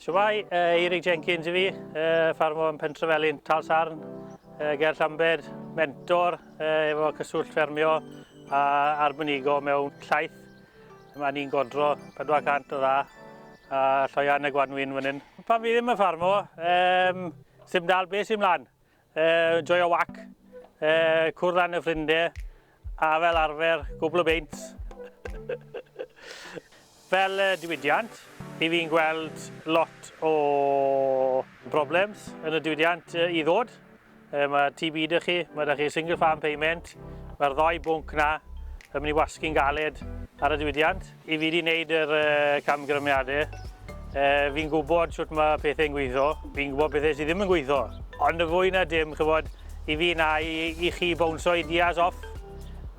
Shwmae, Eirig Jenkins i fi, ffarmwr yn Pentrefelyn, Tal Sarn, ger Llambed, mentor efo cyswllt ffermio a arbenigo mewn llaeth. Mae ni'n godro 400 o dda a lloian y gwanwyn fan hyn. Pan fi ddim yn ffarmo, sy'n dal beth sy'n mlaen. Yy, joio wac, yy, cwrdd â'n y ffrindie, a fel arfer, gwbl o beint. Fel uh, diwydiant, i fi'n gweld lot o problems yn y diwydiant uh, i ddod. Uh, mae TB dy chi, mae dy chi single farm payment, mae'r ddoi bwnc na yn mynd i wasgu'n galed ar y diwydiant. I fi 'di wneud yr camgrymiadau, fi'n gwybod sut mae pethau'n gweithio, fi'n gwybod pethau sydd ddim yn gweithio. Ond y fwy na dim, chybod, i fi na i, i chi bownsio ideas off,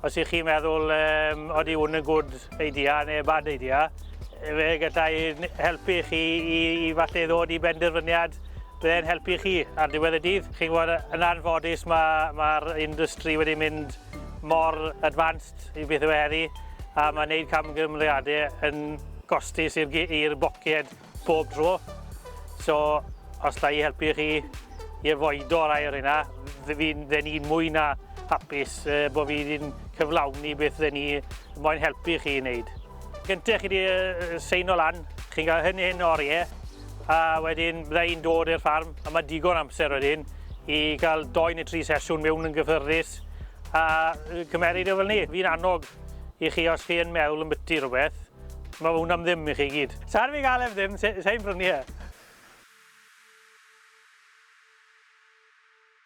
os i chi meddwl, um, oeddi hwn yn good idea neu bad idea, fe gallai helpu chi i, i falle ddod i benderfyniad byddai'n helpu chi ar diwedd y dydd. Chi'n gwybod, yn anffodus mae'r ma, industry wedi mynd mor advanced yw beth yw e heddi a mae'n neud camgymeriade yn gostus i'r gi- i'r boced bob tro. So os alla i helpu chi i afoido rai o'r hynna, f- fi'n fe ni'n mwy na hapus uh, bod fi wedi'n cyflawni beth fe ni moyn helpu chi i wneud. Gyntaf chi wedi uh, seino lan, chi'n cael hyn hyn oriau, a wedyn bydda i'n dod i'r ffarm a mae digon amser wedyn i gael doi neu tri sesiwn mewn yn gyffyrddus a cymeryd o fel ni. Fi'n annog i chi os chi yn meddwl yn byty rhywbeth, mae hwn am ddim i chi gyd. Sa'n fi gael ef ddim, sa'n prynu e.